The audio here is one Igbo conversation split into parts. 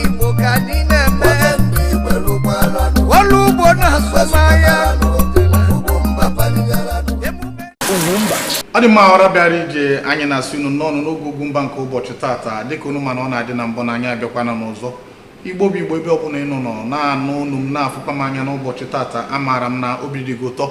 igbo ka anyị na-eme ọrụ ugbo na azụmahịa ọ dị mma ọra bịara ije anyị na-asị unu nnọọ nụ n'oge ugwumba nke ụbọchị tata dịka unu ma na ọ na-adị na mbụ na anyị abịakwana n'ụzọ igbo bụ igbo ebe ọbụla ị nọ nọ na-anụ olu m na-afụkwa m anya n'ụbọchị tata amaara m na obi dị gị ụtọ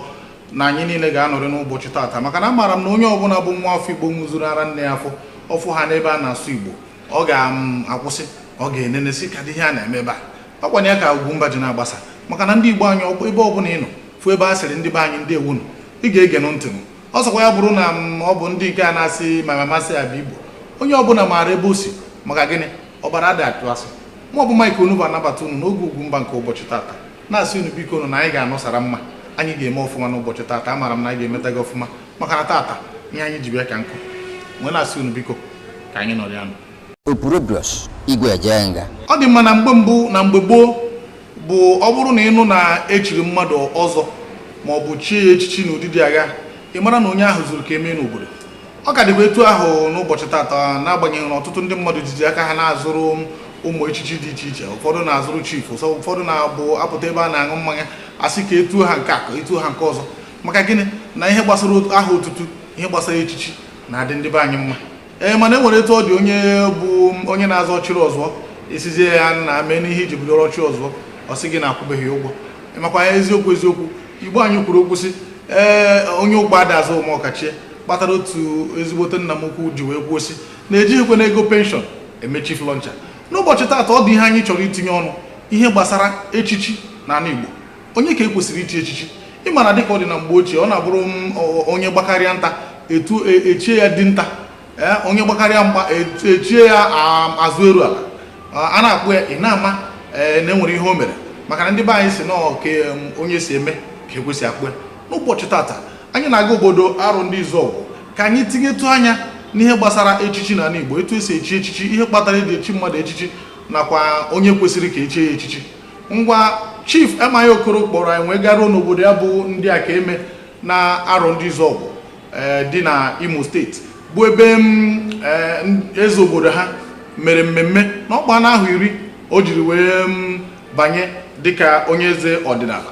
na anyị niile ga-anọrị n'ụbọchị tata maka na amaara m na onye ọbụla bụ nwa afọ igbo ṅụzuru ara nne ya afọ ọ fụ ha n'ebe a na-asụ igbo ọ ga-akwụsị ọ ga-enene sị kedụ ihe a na-eme ebe a ọ kwanụ ya ka Ugwumba ji na-agbasa maka na ndị Igbo anyị ọkpọ ebe ọ bụla ị nọ fụ ebe a sịrị ndị be anyị ndeewo nụ ị ga-ege nụ ntị m ọ sọkwa ya bụrụ na ọ bụ ndị nke a na-asị ma mamasị ya bụ Igbo onye ọbụla maara ebe o si maka gịnị ọbara adị atụ asị ma ọ bụ Mike Onugbu na-anabata unu n'oge Ugwumba nke ụbọchị tata na-asị unu biko unu na anyị ga-anọsara mma anyị ga-eme ọfụma n'ụbọchị tata amaara m na anyị ga-emeta gị ọfụma maka na tata ihe anyị ji bịa ka nkụ wee na-asị unu biko ka anyị nọrọ ya nụ Opurubrus Igwe Ejenga. ọ dị mma na mgbe mbụ na mgbe gboo bụ ọ bụrụ na ị nụ na e chiri mmadụ ọzọ ma ọ bụ chie ya echichi n'ụdị dị aṅaa ị mara na onye ahụ zuru ka e mee n'obodo ọ ka dịkwa etu ahụ n'ụbọchị tata n'agbanyeghị na ọtụtụ ndị mmadụ jizi aka ha na-azụrụ ụmụ echichi dị iche iche ụfọdụ na-azụrụ chief ụfọdụ na-abụ a pụta ebe a na-aṅụ mmanya a sị ka e tu ha nke a ka e tu ha nke ọzọ maka gịnị na ihe gbasara aha otutu ihe gbasara echichi na-adị ndị be anyị mma ee mana e nwere etu ọ dị onye bụ onye na-aza ọchịrịọzụọ ị sịzie ya nnaa meenụ ihe i ji bụrụ ọchịrịọzụọ ọ sị gị na akwụbeghị ụgwọ makwa ya eziokwu eziokwu igbo anyị kwuru okwu sị ee onye ụkpa ada aza omeokachie kpatara otu ezigbote nna m ukwu ji wee kwuo sị na e jighịkwanụ ego penshọn eme chief launcher n'ụbọchị taata ọ dị ihe anyị chọrọ itinye ọnụ ihe gbasara echichi na ala igbo onye ka e kwesịrị ichi echichi ị ma na dịka ọ dị na mgbe ochie ọ na-abụrụ onye gbakarịa nta etu e, echie ya dinta e, onye gbakarịa mgba e, echie ya azụ eru ala a na-akpọ ya ị na-ama na enwere ihe o mere maka na ndị be anyị sị na ọ ka onye si eme ka e kwesị akpọ ya n'ụbọchị tata anyị na-aga obodo Arondizuogu ka anyị tinyetụ anya n'ihe gbasara echichi na ala Igbo etu esi echi echichi ihe kpatara eji echi mmadụ echichi nakwa onye kwesịrị ka echie ya echichi ngwa chief m.i. okoro kpọrọ anyị wee garuo n'obodo ya bụ ndị akaeme na arondizuogu eh, dị na imo steeti bụ ebe mm, eh, eze obodo ha mere mmemme na ọ gbaana ahọ iri o jiri wee mm, banye dịka onye eze ọdịnala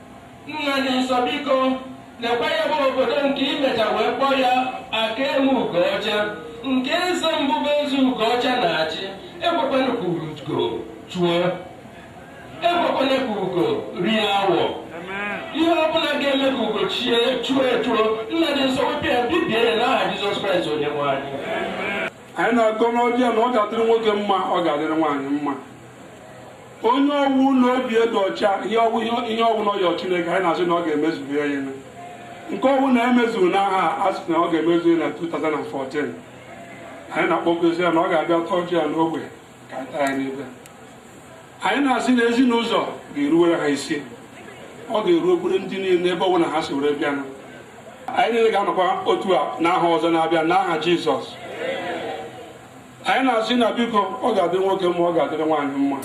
Nna dị nsọ biko lekwa ya bụ obodo nke imecha wee kpọọ ya Akaeme Ugoọcha nke eze mbụ bụ eze Ugoọcha na-achị ekwekwana ka ugo chuo ekwekwana ka ugo rie awọ ihe ọ bụla ga-eme ka ugo chie chuo echuo nna dị nsọ wepụ ya bibie ya n'aha Jizọs Kraịst onye nwe anyị anyị na-agọ n'ọjị a na ọ ga-adịrị nwoke mma ọ ga-adịrị nwaanyị mma onye ọwụna obi dị ọcha ihe ọwụ ihe ọwụna ọ yọ chineke anyị na-asị na ọ ga-emezuru ya ihe nke ọwụna emezughị n'ahọ a sị na ọ ga-emezu ya na 2014 anyị na-akpọkuzi ya na ọ ga-abịa taa ọjị a n'ogbe ka anyị taa ya n'ibe anyị na-asị na ezi n'ụzọ ga-eruwere ha isi ọ ga-eru okpuru ndị niile ebe ọbụla ha si were bịanụ anyị niile ga-anọkwa otu a n'ahọ ọzọ na-abịa n'aha jizọs anyị na-asị na biko ọ ga-adị nwoke mma ọ ga-adịrị nwaanyị mma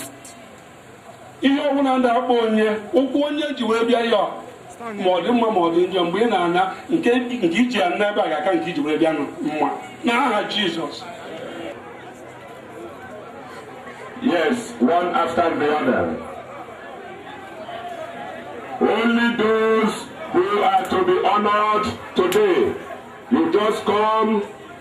ihe ọbụla na-akpa onye ụkwụ onye ji wee bịa ya ma ọ dị mma ma ọ dị njọ mgbe ị na-ana nke i ji ana n'ebe a ga-aka nke i ji wee bịa mma na aha Jizọs yes one after the other only those who are to be honored today you just come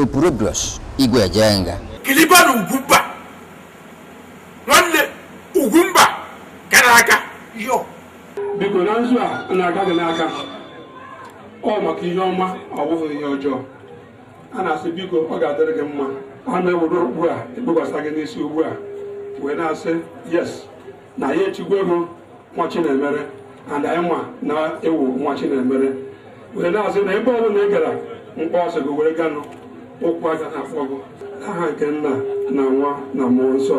Opurobios Igwe Ejenga kiliba na Ugwumba nwanne Ugwumba gara aga yo biko na nzu a na-aka gị n'aka ọ maka ihe ọma ọ wụhụ ihe ọjọọ a na-asị biko ọ ga-adịrị gị mma a na-ewere okpu a ekpekwasa gị n'isi ugbu a wee na-asị yes na ya echigwo gị nwa Chinemere and anyị ma na ị wụ nwa Chinemere wee na-asị na ebe ọbụla ị gara mkpọ a sị gị were ganụ ụkwụ agana akpọ gị aha nke nna na nwa na mmụọ nsọ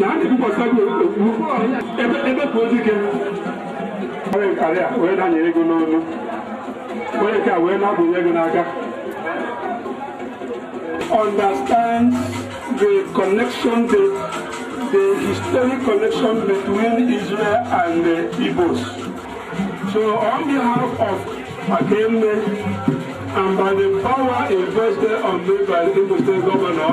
na a na-ebikwasa gị okpu ebe ebe ka ozi gị onye nkarị a wee danye ego n'olu onye nke a wee na-ebunye ego n'aka understand the connection the, the historic connection between Israel and the Igbos so on behalf of Akaeme and by the power invested on me by the Imo State Governor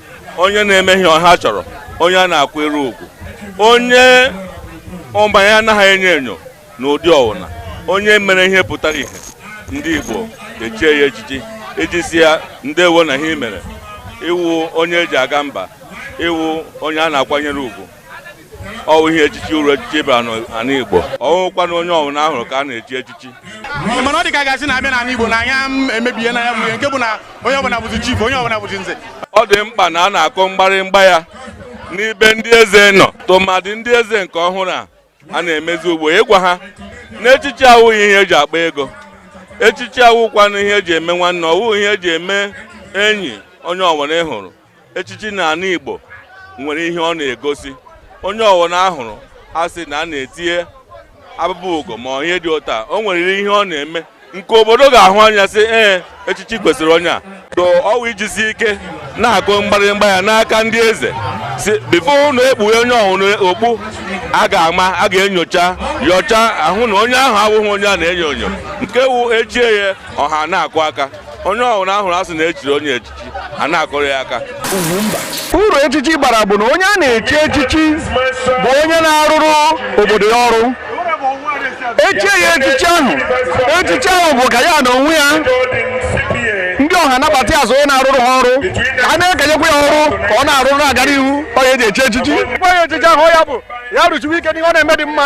onye na-eme ihe ọha chọrọ onye a na-akwanyere ugwu onye agwa ya anaghị enyo enyo na ụdị ọwụna onye mere ihe pụtara ihe ndị Igbo echie ya echichi iji sị ya ndewo na ihe i mere ị wụ onye e ji aga mba ị wụ onye a na-akwanyere ugwu ọwụ ihe echichi uru echichi bara n'ala Igbo ọwụkwana onye ọbụla a hụrụ ka a na-echi echichi mana ọ dị ka a ga-asị na a bịa n'ala Igbo na anyị emebiena ya bụ nke bụ na onye ọbụla bụzi chief onye ọbụla bụzi nze ọ dị mkpa na a na-akụ mgbarịmgba ya n'ebe ndị eze nọ tụmadị ndị eze nke ọhụrụ a a na-emezi ugbu a ịgwa ha na echichi awụghị ihe eji akpa ego echichi awụkwanụ ihe eji eme nwanne ọwụ ihe eji eme enyi onye ọwụna ị hụrụ echichi na ala igbo nwere ihe ọ na-egosi onye ọwụna a hụrụ a sị na a na-etinye abụba ugo ma ihe dị otu a o nweriri ihe ọ na-eme nke obodo ga-ahụ anya sị ee echichi kwesịrị onye a so ọwụ ijisi ike na-akụ mgbarịmgba ya n'aka ndị eze sị before ụnụ ekpuhe onye ọwụna okpu a ga-ama a ga-enyocha nyochaa hụ na onye ahụ abụghị onye a na-enyo enyo nke wụ e chie ya ọha na-akụ aka onye ọwụna a hụrụ a sị na e chiri onye echi a na-akụrụ ya aka uru echichi bara bụ na onye a na-echi echichi bụ onye na-arụrụ obodo ya ọrụ e chie ya echichi ahụ echichi ahụ bụ ka ya na onwe ya ndị ọha nabata ya so onye na-arụrụ ha ọrụ ka a na-ekenyekwa ya ọrụ ka ọ na-arụrụ na-agara ihu ọ ya eji echi echichi ahụ bụ ya rụchiwe ike n'ihe ọ na-eme dị mma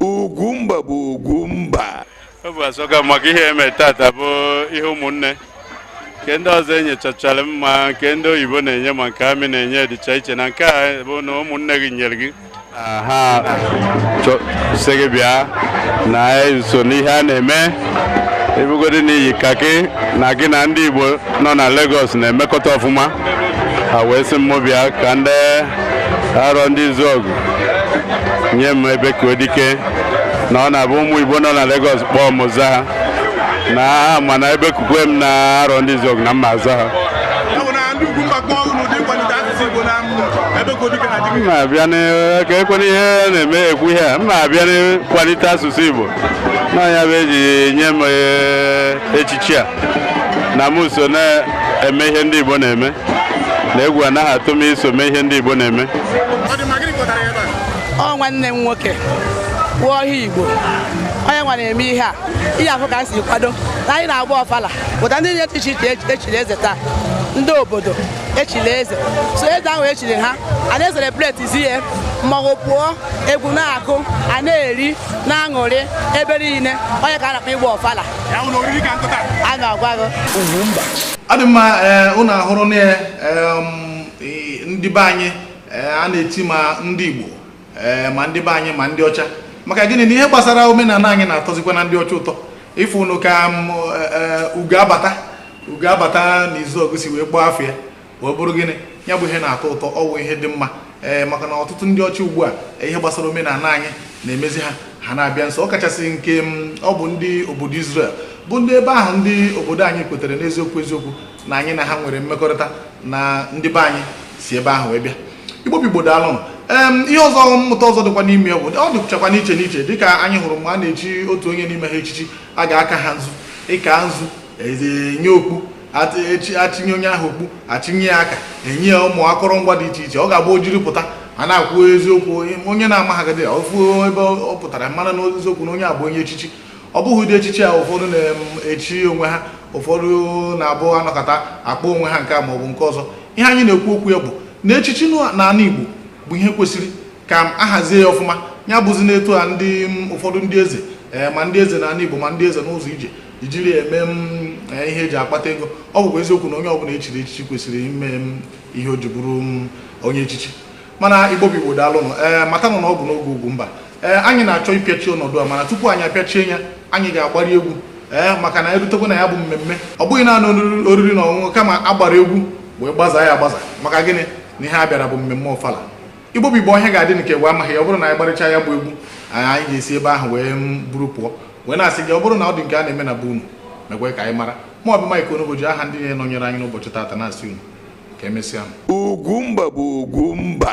Ugwumba bụ Ugwumba obi asọka m maka ihe eme tata bụ ihe ụmụnne nke ndị ọzọ e nyechachara m ma nke ndị oyibo na-enye ma nke army na-enye dịcha iche na nke a bụ na ụmụnne gị nyere gị ha sị gị bịa na i so n'ihe a na-eme ọ bụgodi na i yi khaki na gị na ndị Igbo nọ na Lagos na-emekọta ọfụma ha wee sị mụ bịa ka ndị Arọndịzuọgụ nye m Ebekuodike na ọ na-abụ ụmụ igbo nọ na Lagos kpọọ mụ aza ha na ha ma na e bekukwe m na Arọndịzuọgụ na m ma-aza ha m ma-abịa ka ekwena ihe na-eme ekwu ihe a m ma-abịa n'ịkwalite asụsụ igbo na ya bụ eji nye m echichi a na m so na-eme ihe ndị igbo na-eme na egwu anaghị atụ m iso mee ihe ndị Igbo na-eme ọ nwanne m nwoke wụ ọha Igbo onye nwa na-eme ihe a ihe afụ ka m si kwado na anyị na-agba ọfala pụta ndị na-eche iche iche echiri eze taa ndị obodo echiri eze so eze ahụ echiri ha a na-ecelebratezi ya mmanwụ pụọ egwu na-akụ a na-eri na-aṅụrị ebe niile ọ nya ka a na-akpọ ịgba ọfala a na-agwa gị ọ dị mma ụnụ ahụrụ na ndị be anyị a na-eti ma ndị Igbo ma ndị be anyị ma ndị ọcha maka gịnị na ihe gbasara omenala anyị na-atọzikwana ndị ọcha ụtọ ịfụ ụnụ ka ugo abata ugo abata na Izuọgụ si wee kpọọ afọ ya wee bụrụ gịnị ya bụ ihe na-atọ ụtọ ọwụ ihe dị mma ee eh, maka na ọtụtụ ndị ọcha ugbu a eh, ihe gbasara omenala anyị na-emezi ha ha na-abịa nso ọ kachasị nke mm, ọ bụ ndị obodo Israel bụ ndị ebe ahụ ndị obodo anyị kwetara n'eziokwu eziokwu na anyị na ha nwere mmekọrịta na ndị be anyị si ebe ahụ wee bịa Igbo bụ Igbo daalụ ihe ọzọ mmụta ọzọ dịkwa n'ime ya bụ ọ dịchakwa n'iche n'iche dịka anyị hụrụ mgbe a na-echi otu onye n'ime ha echichi a ga-aka ha nzu ịka nzu enye okpu achịnye onye ahụ okpu achịnye ya aka enye ya ụmụ akụrụngwa dị iche iche ọ ga-abụ o jiri pụta a na-ekwu eziokwu onye na-amaghagide ofu ebe ọ pụtara mara na eziokwu na onye a bụ onye echichi ọ bụghị ụdị echichi a ụfọdụ na-echi onwe ha ụfọdụ na-abụ anọkata akpọ onwe ha nke a maọbụ nke ọzọ ihe anyị na-ekwu okwu ya bụ na echichi na ala Igbo bụ ihe kwesịrị ka a hazie ya ọfụma ya bụzi na etu a ndị ụfọdụ ndị eze eh, ma ndị eze na ala Igbo ma ndị eze n'ụzọ ije ijiri mee eh, ihe eji akpata ego ọ bụkwa eziokwu na onye ọbụla echiri echichi kwesịrị ịma ihe o ji bụrụ onye echichi mana Igbo bụ Igbo daalụnụ ee eh, matanụ na ọ bụ n'oge Ugwumba ee eh, anyị na-achọ ịpịachi ọnọdụ a mana tupu anyị apịachie ya anyị ga-agbarị egwu ee maka na erutekwa na ya bụ mmemme ọ bụghị naanị oriri na ọṅụṅụ kama agbara egwu wee gbazaa ya agbaza maka gịnị na ihe a bịara bụ mmemme ọfala Igbo bụ Igbo ọhịa ga-adị nke wee amaghị ya ọ bụrụ na anyị gbarịcha ya bụ egwu anyị ga-esi ebe ahụ wee buru pụọ wee na-asị gị ọ bụrụ na ọ dị nke a na-eme na be unu meekwa ka anyị mara ma ọ bụ Mike Onugbu ji aha ndị na-anọnyere anyị n'ụbọchị taata na-asị unu ka emesịanụ Ugwumba bụ Ugwumba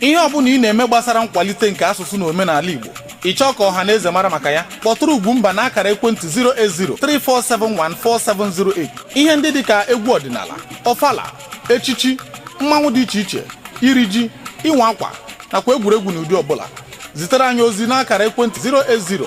ihe ọbụla ị na-eme gbasara nkwalite nke asụsụ na omenala Igbo ị chọọ ka ọha na eze mara maka ya kpọtụrụ Ugwumba n'akara ekwentị 08034714708 ihe ndị dị ka egwu ọdịnala ọfala echichi mmanwụ dị iche iche iri ji ịwa akwa nakwa egwuregwu n'ụdị ọbụla zitere anyị ozi n'akara ekwentị 080